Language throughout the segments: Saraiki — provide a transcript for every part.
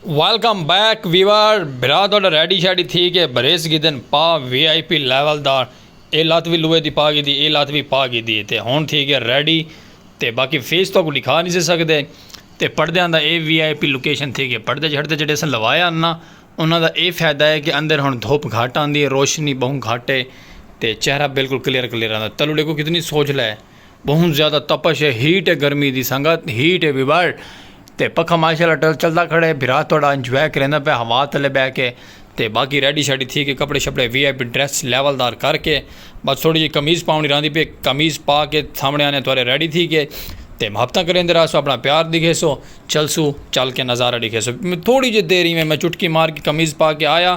ویلکم بیک ویور بھرا تہاڈا ریڈی شیڈی تھی کے بھریس گھدن پا وی آئی پی لیول دا اے لت وی لوہے دی پا گھدی اے لت وی پا گھدی اے تے ہن تھی گیا ریڈی تے باقی فیس تہاکوں ڈکھا نی سے سکدے تے پڑدیاں دا اے وی آئی پی لوکیشن تھی گئے پڑدے چھڑدے جیڑھے اساں لوائے ہن نا انہاں دا اے فیدہ اے کے اندر ہن دھوپ گھٹ آندی اے روشنی بہوں گھٹ اے تے چہرہ بالکل کلیئر کلیئر آندا تلو ڈیکھو کتنی سوجھلا اے۔ بہوں زیادہ تپش ہے ہیٹ ہے گرمی دی سنگت ہیٹ ہے وی ورلڈ تے پکھا ماشاءاللہ ٹل چلدا کھڑے بھرا تہاڈا انجوائے کریندا پیا ہوا تلے بہہ کے تے باقی ریڈی شاڈی تھی کے کپڑے شپڑے V I P dress level دار کر کے بس تھوڑی جی قمیض پاونڑی راہندی پئی قمیض پا کے سامنے آنے تھوڑے ریڈی تھی کے تے محبتاں کریندے راہسوں اپنا پیار ڈیکھیسو چلسو چل کے نظارہ ڈیکھیسو تھوڑی جی دیر ایویں میں چٹکی مار کے قمیض پا کے آیا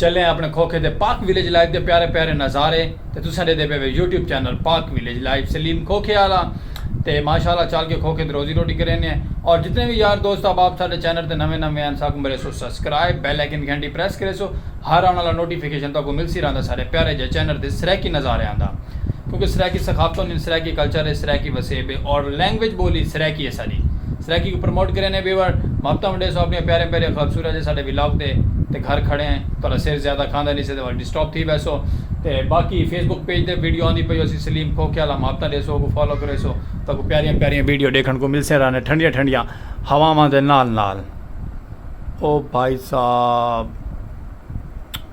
چلیں اپݨے کھوکھے دے پاک ویلیج لائف دے پیارے پیارے نظارے تے تساں ݙیندے پئے وے YouTube channel Pak village life Saleem کھوکھے آلا تے ماشاءاللہ چل کے کھوکھے تے روزی روٹی کرینے ہیں اور جتنے وی یار دوست احباب ساڈے چینل تے نویں نویں ہیں ساکوں مریسو سبسکرائب بیل آئیکن دی گھنٹی پریس کریسو ہر آن والا نوٹیفیکیشن تہاکوں ملسی رہندا ساڈے پیارے جے چینل دے سرائیکی نظاریاں دا کیونکہ سرائیکی ثقافت ہونی سرائیکی کلچر ہے سرائیکی وسیب ہے اور لینگویج بولی سرائیکی ہے ساڈی سرائیکی کوں پروموٹ کرے نے ویور محبتاں ونڈیسو اپنی پیاریاں پیاریاں خوبصورت جے ساڈے ولاگ تے تے گھر کھڑے ہیں تہاڈا سر زیادہ کھاندا نی سے تہاڈا ڈسٹرب تھی ویسو تے باقی فیس بک پیج تے ویڈیو آندی پئی ہوسی سلیم کھوکھے آلا محبتاں ڈیسو اوکوں فالو کریسو تہاکوں پیاریاں پیاریاں ویڈیو ڈیکھن کوں ملسیں رہنے ٹھنڈیاں ٹھنڈیاں ہواواں دے نال نال او بھائی صاحب۔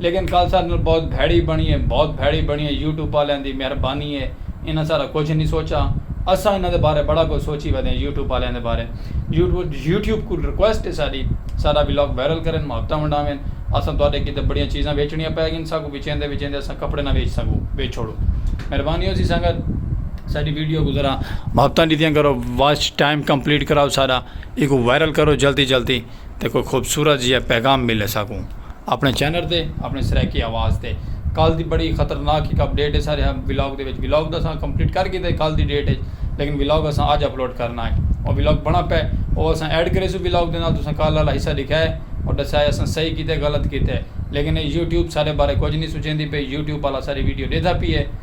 لیکن کال ساڈے نال بہت بھیڑی بنڑی اے بہت بھیڑی بنڑی اے یوٹیوب آلیاں دی مہربانی اے انہاں ساڈا کجھ نی سوچا اساں انہاں دے بارے بڑا کجھ سوچی ودے آں یوٹیوب آلیاں دے بارے یوٹیوب کول ریکویسٹ اے ساڈی ساڈا ولاگ وائرل کرن محبتاں ونڈاون اساں تہاڈے کیتے بڑیاں چیزاں ویچنڑیاں پئے گن ساکوں وچیندے وچیندے اساں کپڑے نہ ویچ سگوں ویچ چھوڑو مہربانی ہوسی سنگت ساڈی ویڈیو کوں ذرا محبتاں ڈتیاں کرو واچ ٹائم کمپلیٹ کراؤ ساڈا ایکوں وائرل کرو جلدی جلدی۔ تے کوئی خوبصورت جیہا پیغام ملے ساکوں اپنے چینل تے اپنے سرائیکی آواز تے کل دی بڑی خطرناک ہک اپڈیٹ ہے سارے ولاگ دے وچ ولاگ دا ساں کمپلیٹ کر گئے تھے کل دی ڈیٹ ہے لیکن ولاگ اساں آج اپلوڈ کرنا ہے اور ولاگ بنا پہ اور اساں ایڈ کرے سو ولاگ دے نال تساں کل والا حصہ دکھا ہے اور دسا ہے اساں صحیح کیتے غلط کیتے لیکن یوٹیوب سارے بارے کچھ نہیں سوچیندی پئی یوٹیوب والا ساری ویڈیو ڈیدھا پی ہے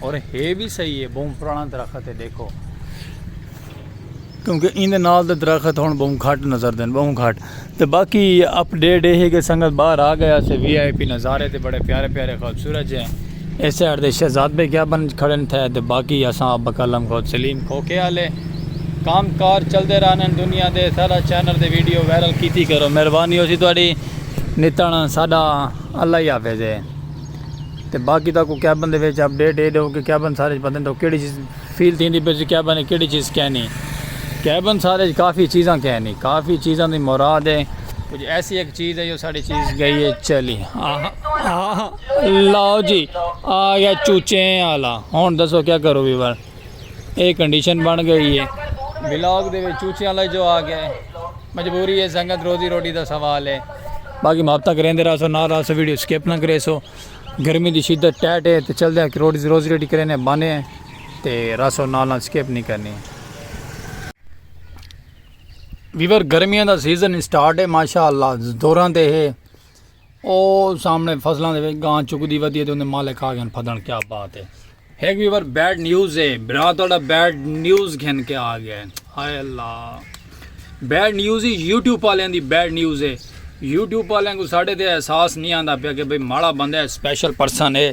اور ہے وی صحیح ہے بہوں پرانا درخت ہے ڈیکھو۔ کیونکہ ایندے نال دے درخت ہن بہوں گھٹ نظر دین بہوں گھٹ تے باقی اپ ڈیٹ ہے کہ سنگت باہر آ گیا سے وی آئی پی نظارے تے بڑے پیارے پیارے خوبصورت جے اس سائیڈ دے شہزاد بے کیا بن کھڑے تھے تے باقی اساں اب بکلم خود سلیم کھوکے والے کام کار چل دے رہنے دنیا دے سارا چینل دے ویڈیو وائرل کیتی کرو مہربانی ہو سی تہاڈی نتنا ساڈا اللہ ہی حافظ ہے۔ تے باقی تاں کوئی کیبن دے وچ اپڈیٹ ایڈ ہو کہ کیبن سارے وچ پتہ نہیں تاکہ کیڑی چیز فیل تھی پئی ہے کیبن وچ کیڑی چیز کہنی ہے کیبن سارے وچ کافی چیزاں کہنی کافی چیزاں دی مراد ہے کچھ ایسی ایک چیز ہے جو ساری چیز گئی ہے چلی لاؤ جی آ گیا چوچیں والا ہن دسو کیا کرو ویور اے کنڈیشن بن گئی ہے بلاگ دے وچ چوچیاں لگ جو آ گئے مجبوری ہے سنگت روزی روٹی دا سوال ہے باقی محبتہ کریندے رہا سو نال رہا سو ویڈیو سکپ نہ کرے سو گرمی دی شدت ٹیٹ ہے تے چل دے روزی روٹی کرینے بانے ہیں تے رہا سو نال نال سکپ نہیں کرنی ہے ویور گرمیاں دا سیزن سٹارٹ ہے ماشاءاللہ دوراں دے ہے او سامنے فصلاں دے وچ گاں چکدی ودی ہے تے اوندے مالک آ گئن پھدن کیا بات ہے ہک ویور بیڈ نیوز ہے برا تہاڈا بیڈ نیوز گھن کے آ گئے ہائے اللہ بیڈ نیوز ہی یوٹیوب والے دی بیڈ نیوز ہے یوٹیوب والے کو ساڈے تے احساس نہیں آندا پیا کہ بھئی ماڑا بندہ ہے سپیشل پرسن ہے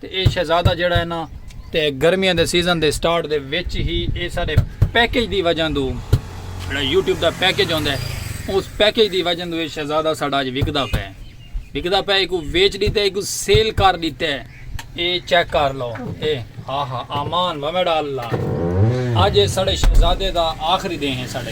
تے اے شہزادہ جیڑھا ہے نا تے گرمیاں دے سیزن دے سٹارٹ دے وچ ہی اے ساڈے پیکج دی وجہ دو جیڑھا یوٹیوب دا پیکج ہوندا ہے اس پیکج دی وجہ دو اے شہزادہ ساڈا اج وکدا پے وکدا پے ایکو ویچ دیتا ہے ایکو سیل کر دیتا ہے اے چیک کر لو اے ہا ہا امان ومیڑا اللہ اج اے ساڈے شہزادے دا آخری دے ہیں ساڈے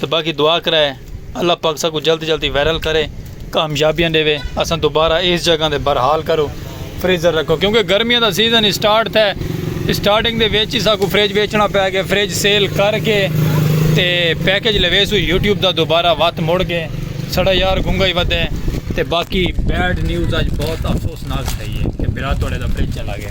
تے باقی دعا کرائے اللہ پاک ساکوں جلد جلدی وائرل کرے کامیابیاں ڈیوے اساں دوبارہ ایس جگہ تے برحال کرو فریزر رکھو کیونکہ گرمیاں دا سیزن اسٹارٹ تھے اسٹارٹنگ دے وچ ہی ساکوں فریج ویچنا پے گئے فریج سیل کر کے تے پیکج لویسوں یوٹیوب دا دوبارہ وات مڑ کے ساڈا یار گنگا ہی ودے تے باقی بیڈ نیوز اج بہت افسوسناک تھئی ہے کہ برا توڑے دا فریج چلا گیا۔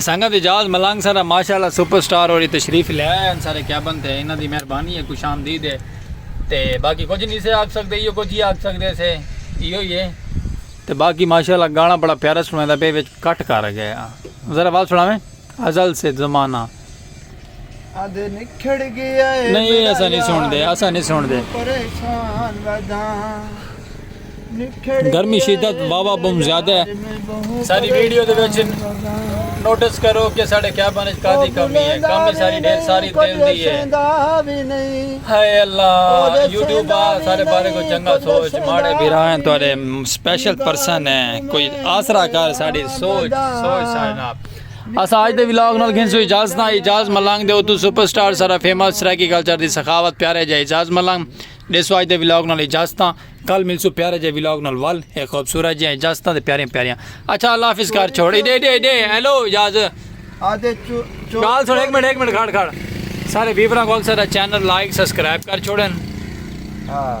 سنگت اعجاز ملنگ سارا ماشاء اللہ سپر سٹار اور تشریف لے آئے ہیں سارے کیبن تھے انہاں دی مہربانی ہے خوش آمدید ہے تے باقی کچھ نہیں سے آگ سکتے یہ کچھ ہی آگ سکتے سے یہ ہوئی ہے تے باقی ماشاء اللہ گانا بڑا پیارا سنویں دا پہ وچ کٹ کر گئے ذرا بات سناویں ازل سے زمانہ آدھے نکھڑ گیا ہے نہیں اسا نہیں سن دے اسا نہیں سن دے پریشان وداں گرمی شدت بابا بم زیادہ ہے ساری ویڈیو دے وچ نوٹس کرو کہ ساڑے کیا بنے کا دی کمی ہے کمی ساری ڈھیر ساری دل دی ہے ہائے اللہ یوٹیوب آ سارے بارے کو چنگا سوچ ماڑے بھرا ہیں تو ارے سپیشل پرسن ہیں کوئی آسرا کر ساڑی سوچ سوچ ساڑی ناپ اساں اج دے ولاگ نال گھنسوں اعجاز نال اعجاز ملنگ دے اتو سپر سٹار سارا فیمس سرائیکی کلچر دی سخاوت پیارے جے اعجاز ملنگ دیسو اج دے ولاگ نال اعجاز تاں کل ملسو پیارے جے ولاگ نال ول اے خوبصورت جے اعجاز تاں تے پیاریاں پیاریاں اچھا اللہ حافظ کر چھوڑ اے دے دے دے ہیلو اعجاز آدھے چو چو گال سن ایک منٹ ایک منٹ کھڑ کھڑ سارے ویوراں کو اکثر چینل لائک سبسکرائب کر چھوڑن ہاں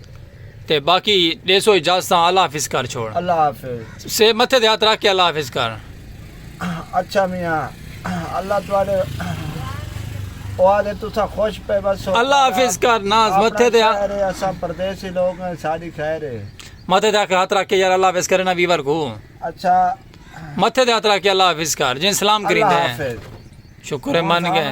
تے باقی ڈے سو اجازتاں اللہ حافظ کر چھوڑ اللہ حافظ سے متھے دے ہاتھ رکھ کے اللہ حافظ کر اچھا میاں اللہ تواڈے اوادے تسا خوش پے بس اللہ حافظ کر ناز متھے دے ہاتھ اسا پردیسی لوگ ہیں ساڈی خیر ہے متھے دے ہاتھ رکھ کے یار اللہ حافظ کرے نا ویور کو اچھا متھے دے ہاتھ رکھ کے اللہ حافظ کر جن سلام کرین دے شکر ہے من گئے